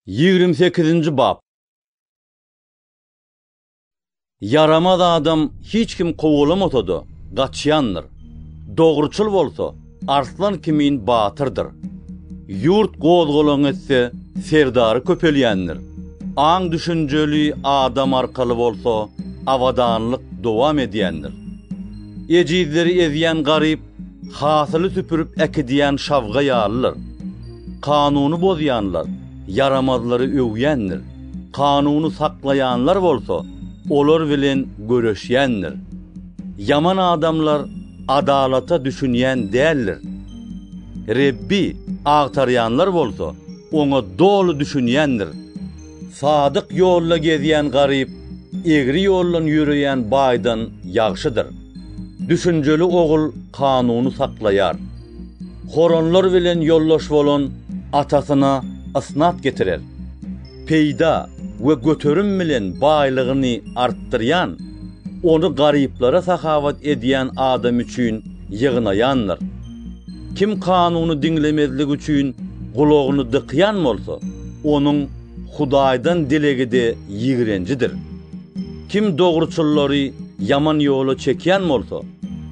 Ýigrimi sekizinji bap. Ýaramaz adam hiç kim kowalamasa-da, gaçýandyr. Dogruçyl bolsa, arslan kimin batyrdyr. Ýurt gozgalaň etse, serdary köpelýändir. Aň-düşünjeli adam arkaly bolsa, abadanlyk dowam edýändir. Ejizleri ezýän garyp Hasyly süpürip äkidýän şabga ýalylar. Kanuny bozýanlar ýaramazlary öwýändir, kanuny saklaýanlar bolsa olar bilen göreşýändir. Ýaman adamlar adalata düşünýän däldir. Rebbi agtarýanlar bolsa Oňa doly düşünýändir. Sadyk ýolda gezýän garyp egri ýoldan ýöreýän baýdan ýagşydyr. Düşünjeli ogul kanuny saklaýar. Horonlar bilen ýoldaş bolan atasyna ysnat getirer. Peýda we göterim bilen baýlygyny artdyrýan, ony garyplara sahawat edýän adam üçin ýygnaýandyr. Kim kanuny diňlemezlik üçin gulagyny dykýan bolsa, onuň Hudaýdan dilegi-de ýigrenjidir. Kim dogruçyllary ýaman ýola çekýän bolsa,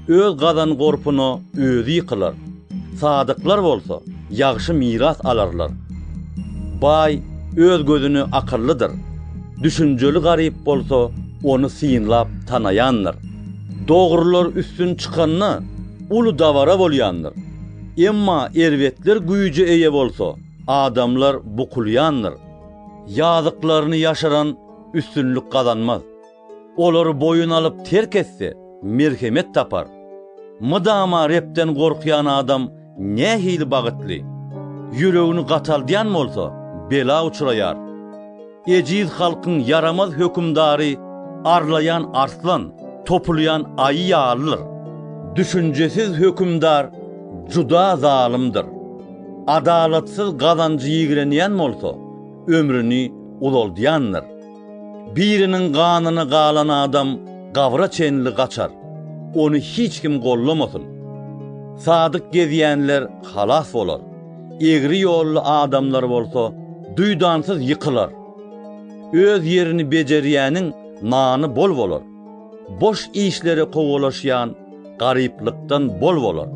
öz gazan-gorpuna özi ýykylar, sadyklar bolsa ýagşy miras alarlar. Baý öz gözüne akyllydyr, düşünjeli garyp bolsa ony synlap tanaýandyr. Dogrular üstün çykanda, uly dabara bolýandyr. Emma erbetler güýje eýe bolsa, adamlar bukulýandyr. Ýazyklaryny ýaşyran üstünlik gazanmaz. Olary boýun alyp terk etse, merhemet tapar. Mydama Rebden gorkýan adam nähili bagytly! Ýüregini gataldýan bolsa, bela uçraýar. Ejiz halkyň ýaramaz hökümdary arlaýan arslan, topulýan aýy ýalydyr. Düşünjesiz hökümdar juda zalymdyr. Adalatsyz gazanjy ýigrenýän bolsa, ömrüni uzaldýandyr. Biriniň ganyny galan adam gabra çenli gaçar, ony hiç kim gollamasyn. Sadyk gezýänler halas bolar. egri ýolly adamlar bolsa duýdansyz ýykylar. Öz ýerini bejerýäniň nany bol bolar, boş işlere kowalaşýan garyplykdan bol bolar.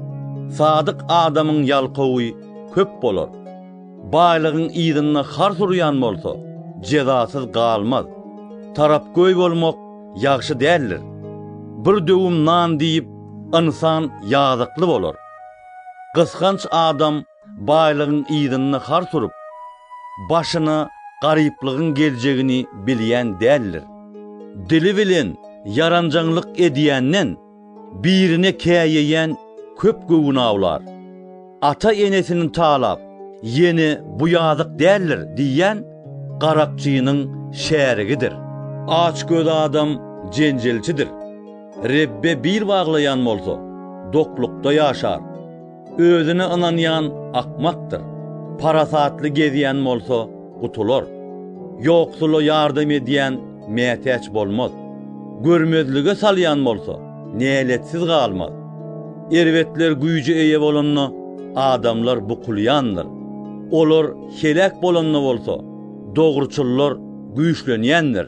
Sadyk adamyň ýalkawy köp bolar. Baýlygyň yzynda hars urýan bolsa, jezasyz galmaz. Tarapgöý bolmak ýagşy däldir. Bir döwüm nan diýip, ynsan ýazykly bolar. Gysganç adam baýlygyň yzynda har surup, başyna garyplygyň geljegini bilýän däldir. Dili bilen ýaranjaňlyk edýänden, birine käýeýän köp göwün awlar. Ata-enesini talap, ýene bu ýazyk däldir diýýän garakçynyň şärigidir. Açgöz adam jenjelçidir. Rebbe bil baglaýan bolsa, doklukda ýaşar. Özüne ynanýan akmakdyr, parasatly gezýän bolsa, gutular. Ýoksula ýardam edýän mätäç bolmaz. Görmezlige salýan bolsa, näletsiz galmaz. Erbetler güýje eýe bolanda, adamlar bukulýandyr. Olar heläk bolanda bolsa, dogruçyllar güýçlenýändir.